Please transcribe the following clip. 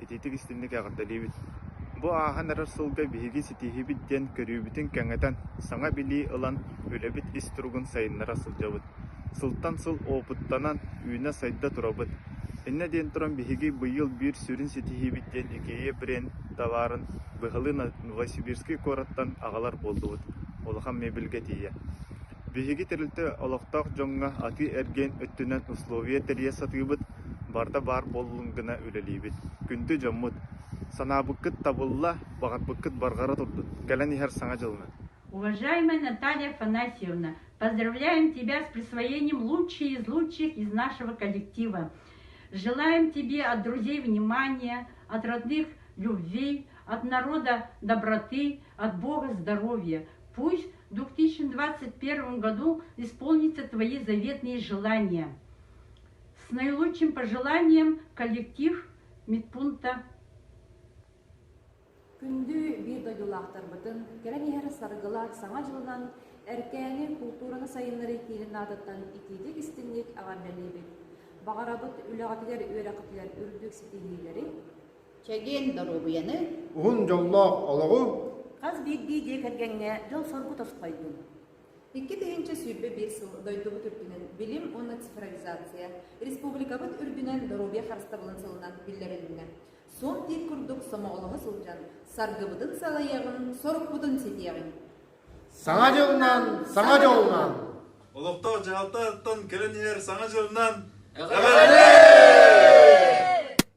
Ититик-истиҥник эҕэрдэлиибит! Бу ааһан эрэр сылга биһиги ситиһиибит диэн көрүүбүтүн кэҥэтэн, саҥа билии ылан, үлэбит ис туругун сайыннара сылдьабыт. Сылтан сыл уопуттанан, үүнэ-сайда турабыт. Иннэ диэн туран, биһиги быйыл биир сүрүн ситиһиибит диэн Икея бренд талаарын быһалыы Новосибирский куораттан аҕалар буоллубут. Улахан мебельгэ тиийэ. Биһиги тэрилтэ олохтоох дьоҥҥо атыы-эргиэн өттүнэн условия тэрийэ сатыыбыт, барыта баар буоллун гына үлэлиибит, күндү дьоммут. Санаабыккыт табылла, баҕарбыккыт барҕара турдун, кэлэн иһэр Саҥа дьылҥыт! Уважаемая Наталья Афанасьевна, поздравляем тебя с присвоением лучшей из лучших из нашего коллектива. Желаем тебе от друзей внимания, от родных любви, от народа доброты, от Бога здоровья. Пусть В 2021 году исполнится твои заветные желания. С наилучшим пожеланием коллектив медпункта Күндү видеодьулаахтарбытын кэрэн иһэр саргылаах саҥа дьылынан Эркээни култуураны сайыннарыы киинин аатыттан итиитик истиҥник аҕам бэлиэбит. Баҕарабыт үлэҕитигэр үөрэххитигэр үрдүк ситиһиилэри, Чэгиэн доруобуйаны! Уһун дьоллоох олоҕу! Хас биирдии дьиэ кэргэҥҥэ дьол-соргу тосхойдун! Икки тыһыынча сүүрбэ биир сыл дойдубут үрдүнэн билим уонна цифровизация, республикабыт үрдүнэн доруобуйа харыстабылын сылынан биллэрилиннэ. Суон диир курдук сомоҕолоһо сылдьан, саргыбытын салайаҕын, сорукпутун ситиэҕиҥ! Саҥа дьылынан, саҥа дьолунан! Олохтоох дьаһалтаттан кэлэн иһэр саҥа дьылынан эҕэрдэ!